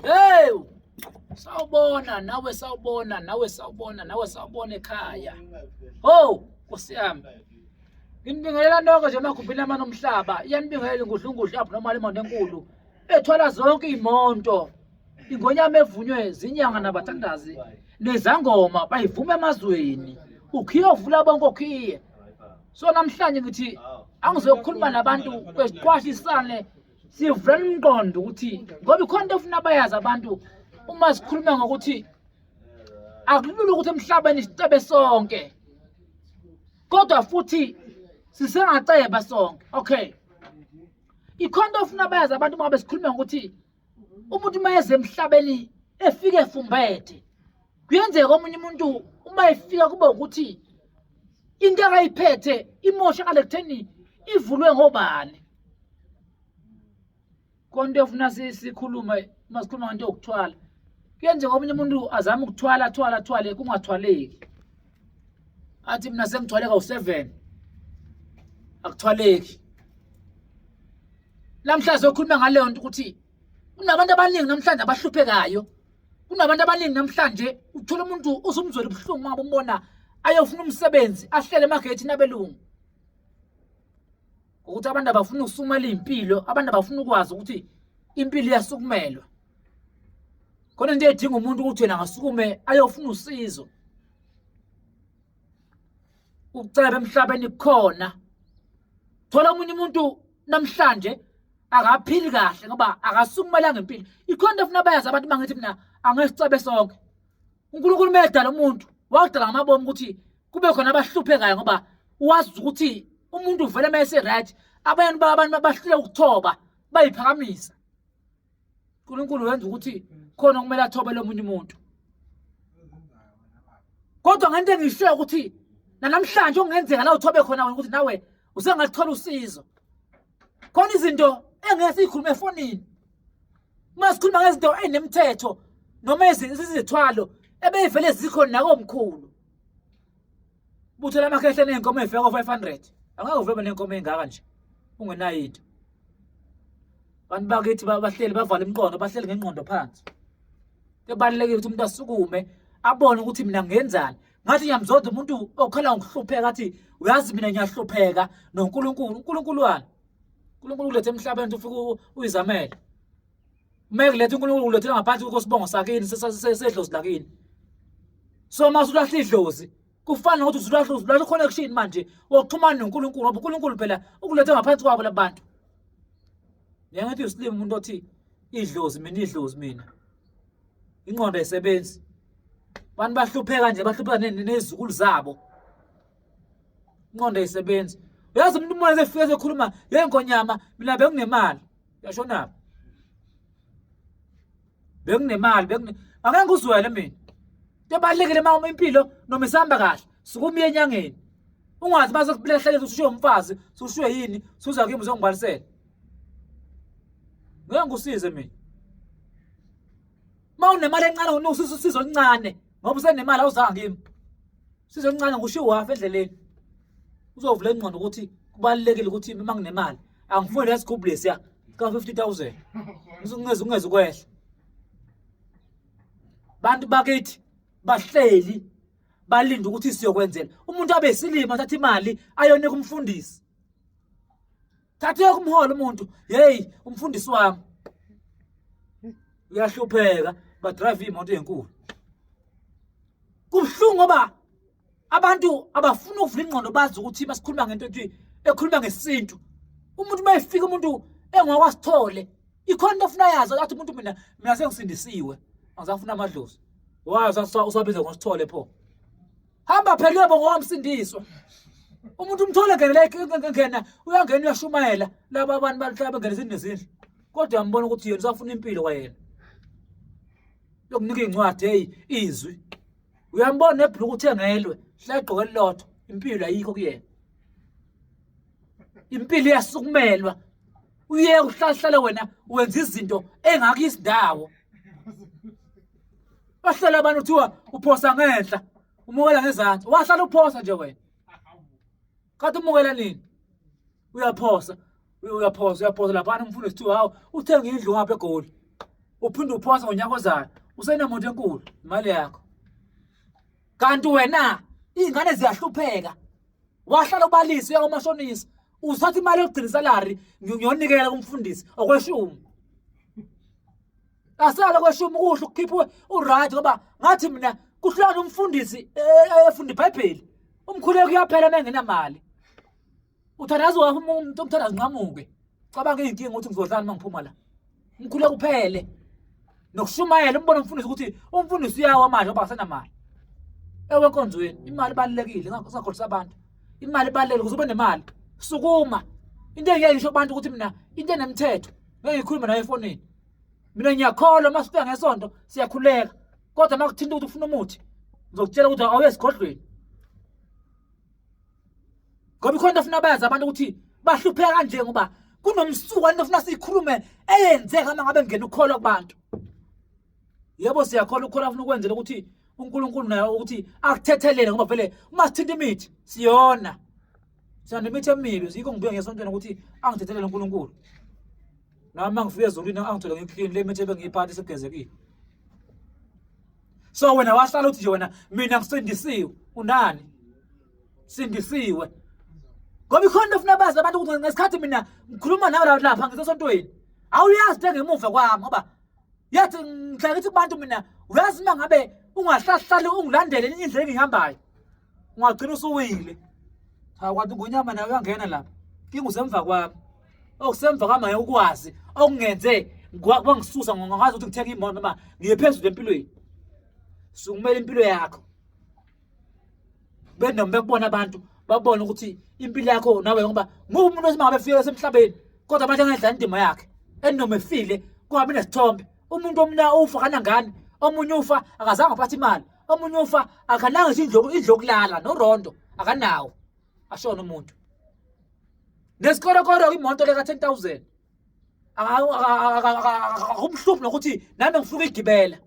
Hey! Sawubona nawe sawubona nawe sawubona nawe sawubona ekhaya. Oh, Nkosi yami. Nginibingelela noko nje makhumbile amana omhlaba. Iyanibingelela ingudlungudlu abnormal imoto enkulu. Ethwala zonke imonto. Ingonyama evunywe zinyanga nabathandazi nezangoma bayivuma emazweni. Ukhiye ovula bonke okhiye. So namhlanje ngithi angizokhuluma nabantu kwesiqwashisane sivula umqondo ukuthi ngoba ikhona into ofuna bayazi abantu uma sikhuluma ngokuthi akulula ukuthi emhlabeni sicebe sonke kodwa futhi sisengaceba sonke okay ikhona into ofuna bayazi abantu uma besikhuluma ngokuthi umuntu uma eze emhlabeni efike efumbethe kuyenzeka omunye umuntu uma efika kube ukuthi into akayiphethe imoshakale kutheni ivulwe ngobani konto efuna sikhulume uma sikhuluma ngento yokuthwala kuyenzeka omunye umuntu azame ukuthwala athwala athwale kungathwaleki athi mina sengithwaleka u7 akuthwaleki namhlanje okhuluma ngaleyo nto ukuthi kunabantu abaningi namhlanje abahluphekayo kunabantu abaningi namhlanje uthola umuntu uzumzwela ubuhlungu uma umbona ayofuna umsebenzi ahlele emagethini abelungu ukuthi abantu abafuna ukusumela impilo abantu abafuna ukwazi ukuthi impilo iyasukumelwa khona into edinga umuntu ukuthi yena angasukume ayofuna usizo ukucela bemhlabeni khona thola omunye umuntu namhlanje akaphili kahle ngoba akasukumelanga impilo ikhona into efuna bayazi abantu bangithi mina angesicebe sonke unkulunkulu umedala umuntu wakudala ngamabomi ukuthi kube khona abahluphekayo ngoba wazi ukuthi umuntu uvele uma ese-right abanye abantu bahlule ukuthoba bayiphakamisa uNkulunkulu wenza ukuthi khona okumele athobele omunye umuntu kodwa ngento engishiyo ukuthi nanamhlanje okungenzeka la uthobe khona wena ukuthi nawe usengathola usizo khona izinto engeke siyikhulume efonini uma sikhuluma ngezinto ezinemthetho noma izithwalo ebeyivele zikhona nakomkhulu Buthela amakhehla nenkomo efika ko 500. Angeke uvebe nenkomo engaka nje. Ungenayo into. Abantu bakithi bahleli bavala imqondo, bahleli ngenqondo phansi. Kubalulekile ukuthi umuntu asukume abone ukuthi mina ngenzani. Ngathi ngiyamzonda umuntu okhala ngokuhlupheka athi uyazi mina ngiyahlupheka noNkulunkulu. UNkulunkulu wani? uNkulunkulu ulethe emhlabeni ufike uyizamele Uma ekuletha uNkulunkulu ulethela ngaphansi kokho sibongo sakini sedlozi lakini. So uma usulahla idlozi kufana nokuthi usulahla usulahla connection manje wokuxhumana noNkulunkulu ngoba uNkulunkulu phela ukulethe ngaphansi kwabo labantu. Ngiyangathi uSlim umuntu othi idlozi mina idlozi mina. Ingqondo ayisebenzi. Abantu bahlupheka nje bahlupheka nezizukulu zabo. Ingqondo ayisebenzi. Uyazi umuntu uma efika ekhuluma yenkonyama mina benginemali. yasho nabo benginemali bengi ake ngikuzwele mina tebalekile uma impilo noma isihamba kahle sukumiye enyangeni ungathi base kuhleleza usushiye umfazi usushiye yini suza kimi uzongibalisela ngeke ngikusize mina uma unemali encane unususa usizo oluncane ngoba usenemali awuzanga kimi usizo oluncane ngisho iwafa endleleni uzovula ingqondo ukuthi kubalulekile ukuthi uma nginemali angifuni lesigubhu lesiya ka-fifty thousand ungeze ungeze ukwehla bantu bakithi bahleli balinde ukuthi siyokwenzela umuntu abe isilima athatha imali ayonika umfundisi thatha yoke umholo umuntu yeyi umfundisi wami uyahlupheka badrayive imoto enkulu kubuhlungu ngoba abantu abafuna ukuvula ingqondo bazi ukuthi basikhuluma ngento ethi ekhuluma ngesintu umuntu uma efika umuntu engokwasithole ikhona into ofuna yazi athi umuntu mina mina sengisindisiwe angisafuna amadlozi wazi usabize ngosithole pho hamba phela uyoba ngowamsindiswa umuntu umthole ngenela ngena uyangena uyashumayela laba abantu bahlala bengena izindlu nezindlu kodwa yambona ukuthi yena usafuna impilo kwayena lokunika iy'ncwadi eyi izwi uyambona nebhuluku uthengelwe hlagqoke elilodwa impilo ayikho kuyena impilo iyasukumelwa uye uhlahlale wena wenza izinto engakho isindawo bahlala abantu kuthiwa uphosa ngenhla umukela ngezansi wahlala uphosa nje wena kade umukela nini uyaphosa uyaphosa uyaphosa laphana umfundo sithiwa hawu uthenga indlu ngapha egoli uphinde uphosa ngonyaka ozayo usenemoto enkulu imali yakho kanti wena iy'ngane ziyahlupheka wahlala ubalisa uya komashonisa uzithatha imali yokugcina isalari ngiyonikela kumfundisi okweshumi asale kweshumi kuhle ukukhipha uright ngoba ngathi mina kuhlukana umfundisi eh, eh, efunda ibhayibheli umkhuleko uyaphela uma engenamali Uthandaza wakho umuntu omthandaza nqamuke. Cabanga izinkinga ukuthi ngizodlani uma ngiphuma la. Ngikhule kuphele. Nokushumayela umbona umfundisi ukuthi umfundisi uyawa manje ngoba asenamali. Ewe enkonzweni imali ibalekile ngakhohlisa abantu. Imali ibalekile kuzobe nemali. Sukuma. Into engiyayisho abantu ukuthi mina into enemthetho ngeke ngikhulume nayo efonini. Mina ngiyakholwa uma sifika ngesonto siyakhuleka. Kodwa uma kuthinta ukuthi ufuna umuthi ngizokutshela ukuthi awuye esigodlweni. ngoba ikhona into funa bayazi abantu ukuthi bahlupheka kanje ngoba kunomsuka into funa siyikhulume eyenzeka uma ngabe ngena ukukholwa kubantu yebo siyakholwa ukukholwa funa ukwenzela ukuthi uNkulunkulu naye ukuthi akuthethelele ngoba vele uma sithinta imithi siyona siyanda imithi emibi yikho ngibuye ngesontweni ukuthi angithethelele uNkulunkulu nami uma ngifika ezulwini angithole ngikhlini le mithi ebengiyiphatha isegezekile so wena wahlala uthi nje wena mina ngisindisiwe unani sindisiwe ngoba ikhona into ofuna bazi abantu ukuthi ngesikhathi mina ngikhuluma nawe la lapha ngisesontweni awuyazi into engemuva kwami ngoba yathi ngidla ngithi kubantu mina uyazi uma ngabe ungahlahlali ungilandele indlela engihambayo ungagcina usuwile cha kwathi ngonyama nawe uyangena lapha kinga usemva kwami okusemva oh, kwami ngeke ukwazi okungenze kwangisusa ngongazi ukuthi ngithenga imoto noma ngiye phezulu empilweni sukumela impilo yakho benoma bekubona abantu babone ukuthi impilo yakho nawe ngoba ngoba umuntu osemangabe efike esemhlabeni kodwa abantu angayidlala indima yakhe enoma efile kungabi nesithombe umuntu omna ufa kanangani omunye ufa akazange aphathe imali omunye ufa akananga nje indloku indlokulala norondo akanawo ashona umuntu nesikorokoro imoto leka 10000 akumhluphi nokuthi nami ngifuna igibela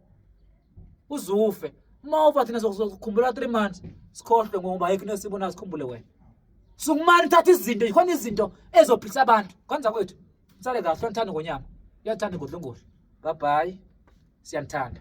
uzufe uma ufa thina sokukhumbula 3 months sikhohlwe ngoba ayikho into esibona sikhumbule wena sukumani thatha izinto yikhona izinto ezophilisa abantu kwenza kwethu sale kahle onithanda ngonyama uyathanda igodlongoli bye bye siyanithanda